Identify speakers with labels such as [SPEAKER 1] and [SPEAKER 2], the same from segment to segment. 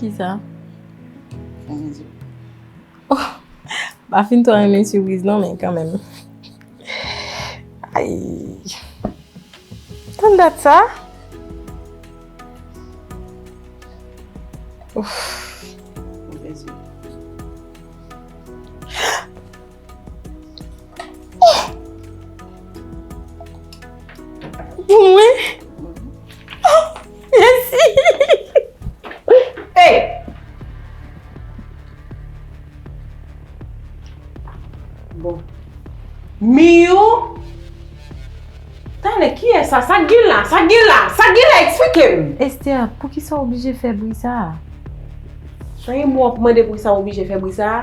[SPEAKER 1] Kisa? Oh, pa fin to renmen sürpriz non men kanmenm. Ayy. Tann dat sa? Ouff. Pou mwen? Mèsi!
[SPEAKER 2] Hey! Bon. Miyou! Tande, kiyès sa? Sa k gen la? Sa k gen la? Sa k gen la? Eksplike m! Esther, poukisa
[SPEAKER 1] w oblije fè bri sa a?
[SPEAKER 2] Son yon mo w ap mande poukisa m oblije fè bri sa a?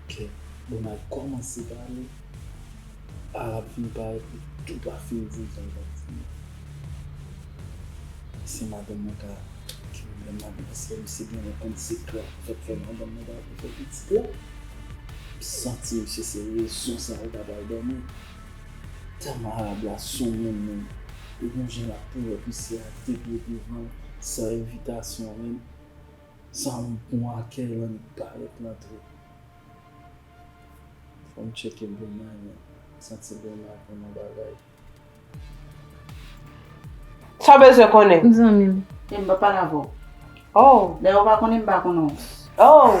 [SPEAKER 3] Ok bon nal komanse pale arab fin pale pou tou pa fin di sa ou tap di yo se madanm mwen ka ki pwoblèm la pou paske misye genlè konn sekrè ki fèk fè madanm mwen pa vle fè pitit la m santi misye se rezon sa li pa bal dòmi tèlman arab la soumoun menm li gon jan lap poulòt misye a de pye devan san envitasyon menm Sam pwan a Keylan li pa ret nan trip. Fòm tcheke Bruna men santi Bruna konn yon bagay.
[SPEAKER 2] Sa w bezwen konnen? Zanmi m. Em
[SPEAKER 1] pa pale avè
[SPEAKER 4] w. Oh. Dayè
[SPEAKER 2] ou pa konnen m pa
[SPEAKER 4] konnen w. Oh.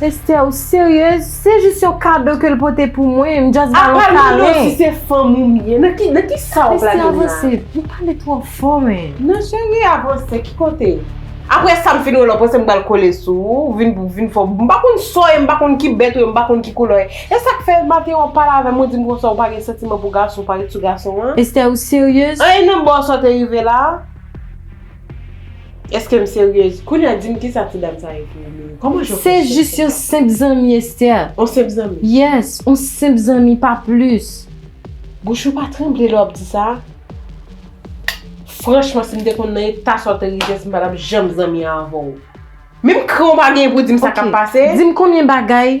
[SPEAKER 1] Esther ou serieuse? Se jis yon kado ke l pote pou mwen, m just ba l yon kalen. Apa si se fanm ou m ye, nan ki sa wap la vin la? Esther avanse, ou pale
[SPEAKER 2] twò fò men. Non chérie
[SPEAKER 1] avanse, ki
[SPEAKER 2] kote? Aprè sa m fin wè l w panse m pral kole sou ou, ou vin pou vin fò, m pa konn sa w ye, m pa konn ki bèt ou ye, m pa konn ki koulè w ye. E sa k fè maten an w pale avè m ou di m konsa ou pa gen santiman pou gason, ou pa ret sou gason an? Esther ou serieuse?
[SPEAKER 1] Anyn nan bon sa w te
[SPEAKER 2] rive la? Eske m seryez? Kounya di m kisa ti dam sa ye pou ou menm? Kòman Jean Paul Charles fè sa? Se jis yon senp
[SPEAKER 1] zanmi Esther. On senp zanmi?
[SPEAKER 2] Yes, on senp
[SPEAKER 1] zanmi pa plis. Bouch ou pa
[SPEAKER 2] tranble lè wap di sa? Franchman si m te konn nan eta sa w te rive si m pa tap janm zanmi avè w. Menm kran w pa genyen pou di m sa kap pase? Ok, di m konbyen bagay.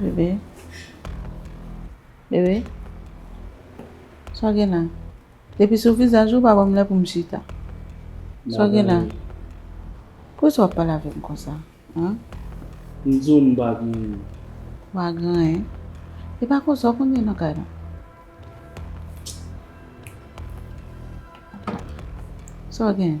[SPEAKER 4] Bebe Bebe Sa w gen la Depi sou vizaj ou pa ban m lè pou m chita Sa w gen la Pou ki sa w ap pale avè m konsa M di
[SPEAKER 3] w m pa gen anyen Ou pa gen
[SPEAKER 4] anyen E pa konsa w konn gen nan kay la Sa w gen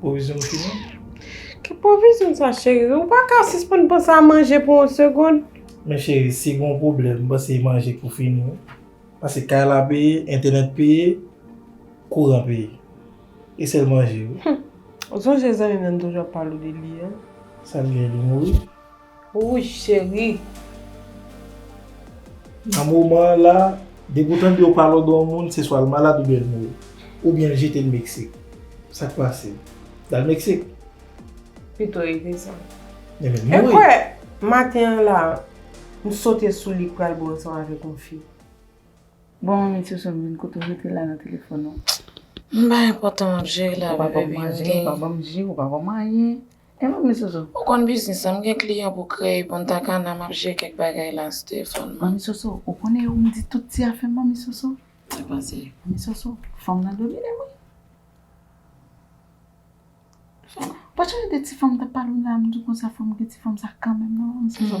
[SPEAKER 5] Pwovizyon ou fini? Ki
[SPEAKER 2] pwovizyon sa cheri? Ou pa ka sispann panse a manje pou yon segond? Men cheri, si
[SPEAKER 5] gen yon pwoblèm, m panse manje pou fini wi. Pase kay la peye, entènèt peye, kouran peye. E sèl manje wi. Ou sonje
[SPEAKER 2] zanmi m nan m toujou ap pale w de li an? Sa l gen? Li
[SPEAKER 5] mouri? Wouch
[SPEAKER 2] cheri.
[SPEAKER 5] Nan moman an la, depi ou tande yo pa lòd yon moun, se swa l malad oubyen l mouri. Oubyen l jete l Meksik. Sa k pase? L al Meksik? Pito
[SPEAKER 2] li desann. Li vin mouri.
[SPEAKER 5] Ekwè, maten
[SPEAKER 2] an la, m sote sou li pral bo ansanm avèk yon fi. Bon
[SPEAKER 4] manmi ti ousè m vin kote w rete la nan telefòn ou. M bay
[SPEAKER 1] enpòtan m ap jere l avèw baby m gen. Ou pa
[SPEAKER 4] ban m
[SPEAKER 1] manje, ou
[SPEAKER 4] pa ban m anyen. Mwen pa konn soso. Ou konn biznis la, m
[SPEAKER 1] gen kliyan pou kreye Punta Cana map jere kèk bagay la sou telefòn mwen. Manmi Soso, ou konnen
[SPEAKER 4] yo m di tout ti afè m manmi Soso. Mwen panse. Manmi
[SPEAKER 1] Soso,
[SPEAKER 4] fanm nan domine m wi. Ou pa sonje de ti fanm m tap pale w nan m di w konsa fòk m gen ti fanm sa kanmenm nan manmi Soso.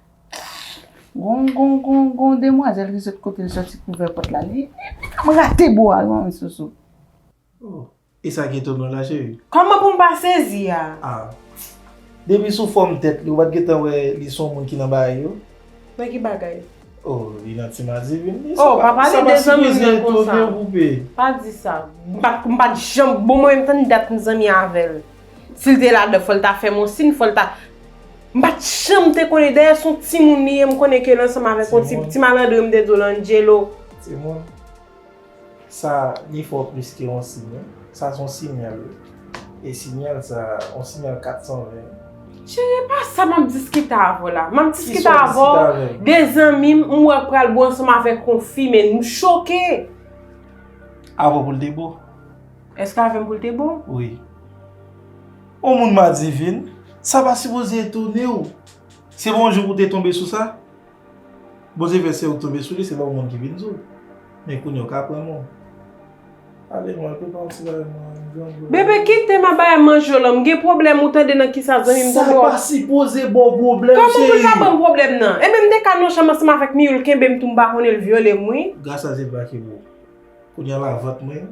[SPEAKER 4] Gon gon gon gon demwazèl ki sot kote l soti pou ouvè pòt la li menm rate bo a yon isoso. Oh
[SPEAKER 5] e sa ki etonan la cheri? Kòman pou m pa sezi
[SPEAKER 2] a? Ah
[SPEAKER 5] depi sou fòm tèt li ou pat gentan wè li son moun ki nan bagay yo? Nan ki bagay?
[SPEAKER 2] Oh li nan
[SPEAKER 5] ti madivin li sa pa sa pa
[SPEAKER 2] sipoze etonew poupe. Pa di
[SPEAKER 5] sa.
[SPEAKER 2] M pat janm bon mwen menm tann dat m zanmi avèl. Si l te ladan, fò l ta fè m yon sin, fò l ta. M pa t janm te konnen, dayè s on timoun li ye, m konnen ke l ansanm avèk yon ti, ti malandren m te di w lan, Angelo. Timoun,
[SPEAKER 5] sa li fè w plis ke yon sin wi, sa s on sinyal wi. E sinyal sa, yon sinyal 420. Cheri e pa
[SPEAKER 2] sa m ap diskite avè w la. M ap diskite avè w de zanmi m, m wè k pral bo ansanm avèk yon fi men m choke.
[SPEAKER 5] Avè w pou l te bo? Eske avèm
[SPEAKER 2] pou l te bon? Wi.
[SPEAKER 5] Ou moun madivin, sa pa sipoze etone ou. Se pa yon jou pou w te tonbe sou sa. Bondye fè se ou k tonbe sou li, se pa yon moun ki vin di w. Men kounye a ou ka aprann moun. Ale mwen prepare yon ti bagay mwen menm jan vle.
[SPEAKER 2] Bebe kite m ap bay a manje w lan. M gen pwoblèm ou tande nan kisa zanmi m tonbe w. Sa pa sipoze
[SPEAKER 5] ba w pwoblèm cheri. Kòman pou l pa ban m pwoblèm
[SPEAKER 2] nan? Enben m te ka nan chanm ansanm avèk Miyou l kenbe m tou m pa konnen l vyole m wi. Gras a Jewova ki bo.
[SPEAKER 5] Kounye a la vant mwen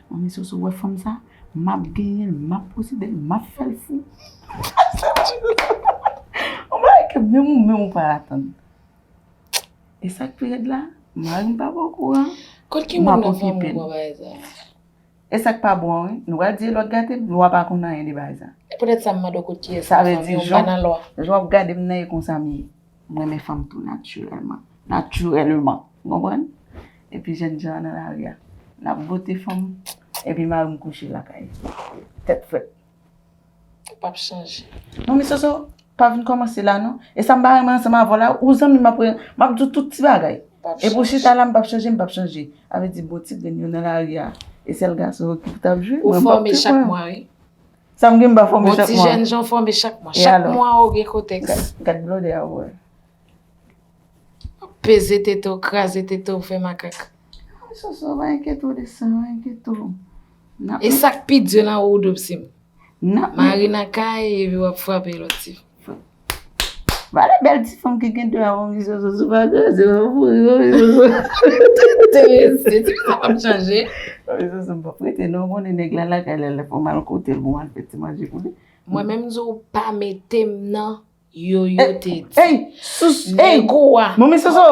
[SPEAKER 4] Manmi Soso ou wè fanm sa, map genyenl, map posedel, map fèl fou. On bagay ke menm ou menm ou pa atann. E sak pi rèd la, marim pa bon kouran. Kot ki moun nan fanm
[SPEAKER 6] ou wè bagay sa?
[SPEAKER 4] E sak pa bon an wi, nou pral di e lòt gatem, lwa pa konn anyen de bagay sa. E poutèt sa m mande w
[SPEAKER 6] kot kiyès nan fanmi w, m pa nan
[SPEAKER 4] lwa. Jan wap
[SPEAKER 6] gadem nan e
[SPEAKER 4] konsa m ye. M renmen fanm tou natirèlman. Natirèlman! Ou konprann? Epi jèn jan an nan lari a. N ap bote fanm, epi mari m kouche lakay. Tèt frèt. Ou
[SPEAKER 6] pap chanje. Non men Soso,
[SPEAKER 4] pa vin kòmanse la non. E sa m pa renmen ansanm avè w la, ou zanmi m apre, m ap di w tout ti bagay. Epi w chita la m pap chanje, m pap chanje. A vle di bon ti grenn yo nan lari a, e sèl gason yo ki pou t ap jwe. Ou fòme chak mwa
[SPEAKER 6] wi. Sa m gen m pa
[SPEAKER 4] fòme chak mwa. Bon ti jèn jan fòme chak mwa.
[SPEAKER 6] Chak mwa ou gen kotèks. Gad blòdè a ou
[SPEAKER 4] wè.
[SPEAKER 6] Peze tete ou, kraze tete ou, fè makak. Mwen sou sou,
[SPEAKER 4] mwen enkete ou de sa, mwen enkete ou. E
[SPEAKER 6] sak pi di lan ou doub si m. Mari
[SPEAKER 4] nan kay,
[SPEAKER 6] evi wap fwape lòt si.
[SPEAKER 4] Vale bèl ti fanm ki gen 2 an Momi Zozo sou pa kraze m nan pou ri Momi Zozo Enterese
[SPEAKER 6] ti fanm ap chanje Momi Zozo m pap
[SPEAKER 4] rete non ou konnen nèg la lakay la lè fò m al kote l pou m al fè ti manje pou li Mwen menm m di w pa
[SPEAKER 6] mete m nan Yoyo te di Ey! Sus!
[SPEAKER 4] Ey! Nèg ou
[SPEAKER 6] a Momi Zozo!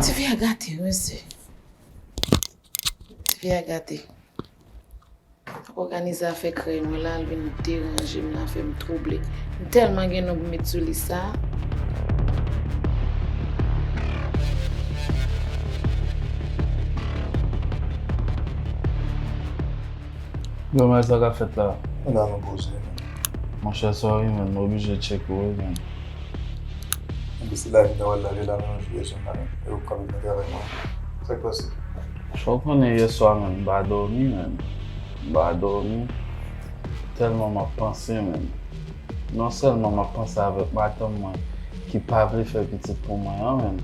[SPEAKER 6] Ti fi a gate wi mesye. Ti fi a gate. Ap organize afè krèy mwen la, al vin deranje m nan, fè m twouble. M tèlman gen non pou met sou lis sa.
[SPEAKER 3] Yo men sa k ap fèt la. Ala nou poze nou.
[SPEAKER 7] Monchè
[SPEAKER 3] sa w ye menm, m oblije tcheke w wi menm.
[SPEAKER 7] Anpi se la vida wal lave la nan yon fiyè sou nan e ou kap vini travay mwen sak pase. Fè w konnen
[SPEAKER 3] yè swa menm m pa dòmi menm m pa dòmi tèlman map panse menm non sèlman map panse avèk madanm mwen ki pa vle fè pitit pou mwen an menm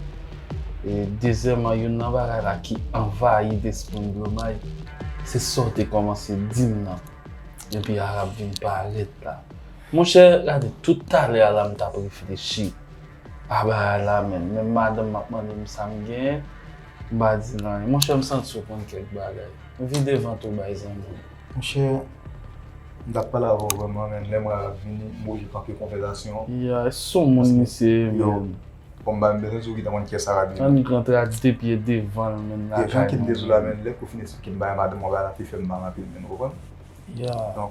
[SPEAKER 3] e dezyèman youn nan bagay la ki anvayi despri m blomay se sa w te kòmanse di m nan depi Arab vin parèt la. Monchè gade tout talè a la m tap reflechi a bagay la menm menm madanm m ap mande m sa m gen m pa di l anyen monchè m santi w konn kèk bagay vide vant ou bay zanmi w. Monchè
[SPEAKER 7] m tap pale avè w vrèman men lè m wè lap vini m oblije kanpe konvèzasyon an. Ya e soumoun
[SPEAKER 3] misye ye menm. Bon bagay
[SPEAKER 7] m bezwen di w ki ta konn kyès Arabi menm. Annik rantre a di depi
[SPEAKER 3] e devan l menm lakay mwen. Jan kem te di w la
[SPEAKER 7] menm
[SPEAKER 3] lè
[SPEAKER 7] kou fin esplike m bagay madanm m wè bagay la pi fè m mal anpil menm ou konprann. Ya.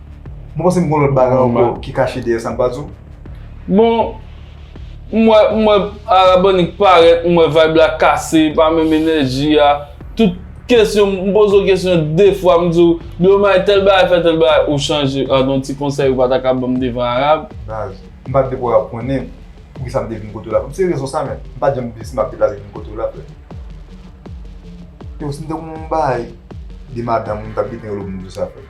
[SPEAKER 7] Mwen panse m kon lòt bagay ankò ki kache dèyè sa m pa di w. Bon,
[SPEAKER 8] m wè, m wè Arabònik parèt, m wè vibe la kase, e pa menm enèji a. Tout kesyon, m poze w kesyon de fwa, m di w, Djomay, tèl bagay fè tèl bagay, ou chanje. A, gon ti konsèy ou pa ta ka ban m devan Arab? Baz, m pa t
[SPEAKER 7] depo Arab konnen pou ki sa m te vin kote w la. M se rezon sa menm. M pa t janm di si m ap deplase vin kote w la frè. Yo, si m te konn yon bagay de madanm ou, m t ap gete yon lòt moun pou sa frè.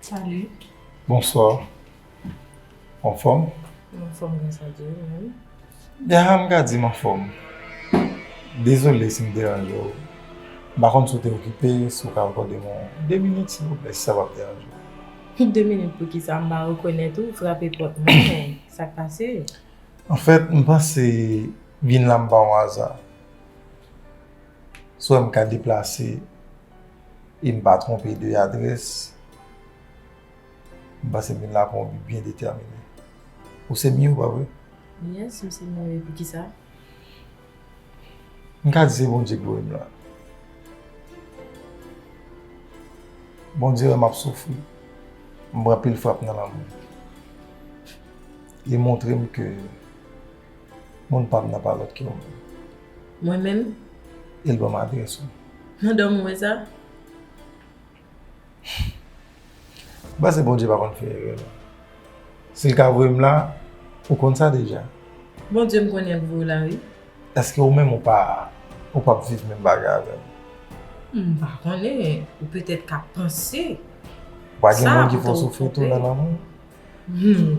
[SPEAKER 1] Salut. Bonsoir.
[SPEAKER 7] En forme? En forme grâce
[SPEAKER 1] à Dieu, même. Yara m ka
[SPEAKER 7] di m en forme. Désolé si m deranje w. M pa konn si w te okipe, si w ka akòde m yon 2 minit silvouplè, si sa pap deranje w. 2 minit poukisa?
[SPEAKER 1] M pa rekonèt ou, frape pòt mwen men sa k pase? En fait,
[SPEAKER 7] m panse vin la m pa yon aza. Si w wè m ka deplase. E m pa twonpe de adrès. M panse m vin la pou yon bi byen detèmine. Ou se Miho, pa vre? Yes, m se
[SPEAKER 1] Miho. E poukisa?
[SPEAKER 7] M ka di se Bondye ki voye m la. Bondye wè m ap soufri, m pran pil frap nan lanmou. Li montre m ke Moun pam nan pa lòt ke ou menm. Mwen menm?
[SPEAKER 1] E l
[SPEAKER 7] ban m adrès ou. Nan dòmi w wè
[SPEAKER 1] sa?
[SPEAKER 7] M panse Bondye pa konn fè erè non. Si l ka voye m la, ou konn sa deja. Bondye m
[SPEAKER 1] konnen ap voye w la wi. Eske ou menm ou
[SPEAKER 7] pa ou p ap viv menm bagay avè m? M
[SPEAKER 1] pa konnen, ou petèt ka panse. Pa gen
[SPEAKER 7] moun ki fè w soufri tou nan lanmou? Humm.